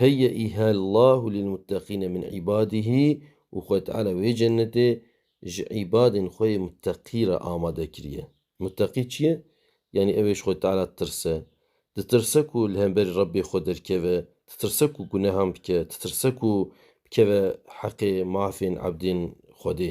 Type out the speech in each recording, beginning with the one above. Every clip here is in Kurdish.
Heyyeîha Llahu lîlmutteqîne min îbadîhî û Xwedê Teala wê cennetê ji îbadên xwe yê mutteqî re amade kiriye. Mutteqî çi ye? Yanî ew ê ji Xwedê Teala ditirse. Ditirse ku li hemberî Rebbê xwe derkeve, ditirse ku gunehan bike, ditirse ku bikeve heqê mafên ebdên Xwedê.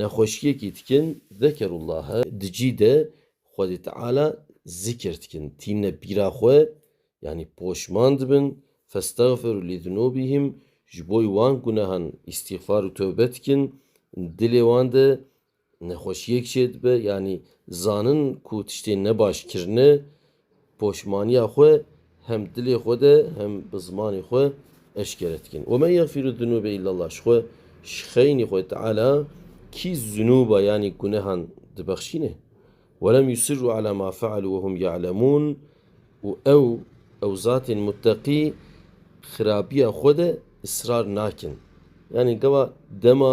Nexweşiyekî dikin zekerullahe di cî de Xwedê Teala zikir dikin, tîne pîra xwe yanî poşman dibin, festexfiru li zunûbihim ji bo wan gunehan îstîxfar û tewbe dikin, dilê wan de nexweşiyek çêdibe yanî zanin ku tiştê nebaş kirine Poşmaniya xwe hem dilê xwe de hem bi zimanê xwe eşkere dikin. Ve men yexfîru zunûbe illallah ji xwe ji xeynî xwe Teala kî zunûba yanî gunehan dibexşîne. Welem yusirru ala ma fealû wehum ye'lemûn û ew ew zatên muteqî xirabiya xwe de israr nakin. Yanî gava dema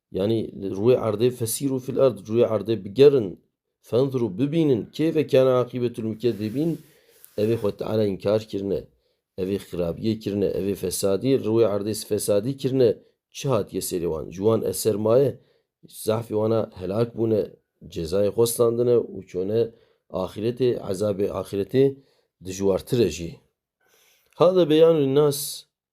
Yanî li rûyê erdê fesîrû fîl erd, rûyê erdê bigerin, fenzirû bibînin keyfe kâne aqîbetûl mukêzî bîn, evê Xwed Teala înkar kirine, evê xirabiyê kirine, evê fesadiyê li rûyê erdê fesadî kirine, çi hatiye serê wan? Ji wan eser maye? Zehfê wana helak bûne, cezayê xwe standine û çûne axîretê, ezabê axîretê dijwartir e jî. Hada beyanû lin nas